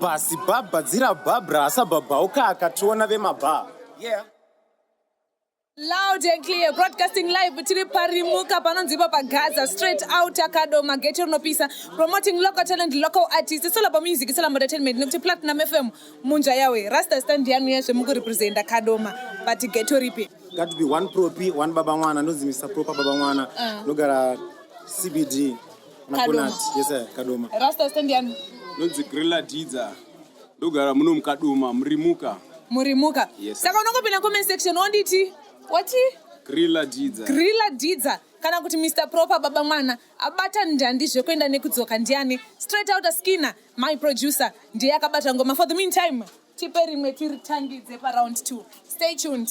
Basi bhabha dzira bhabra asabhabhauka akationa vemabhaa. Yeah. Loud and clear, broadcasting live tiri parimuka panonzi ipa pagaza straight out akadoma geto rinopisa promoting local talent local artist it's all about music it's all about entertainment nekuti platinum fm munja yawe rasta stand yanu yezve mukurepresenta kadoma but geto ripi Got to be one propi, one baba mwana, ndonzi Mr. Proper baba mwana. Ndogara CBD. Kadoma. Yes, sir. Kadoma. Rasta stand yani. Nonzi Grilla Didza. Ndogara muno mukadoma murimuka. Murimuka. Yes, sir. Saka unongopinda comment section wonditi wati Grilla Didza. Grilla Didza kana kuti Mr Proper baba mwana abata ndandi zvekuenda nekudzoka ndiani straight out askina my producer ndiye akabata ngoma for the meantime tipe rimwe tiritangidze paround 2 stay tuned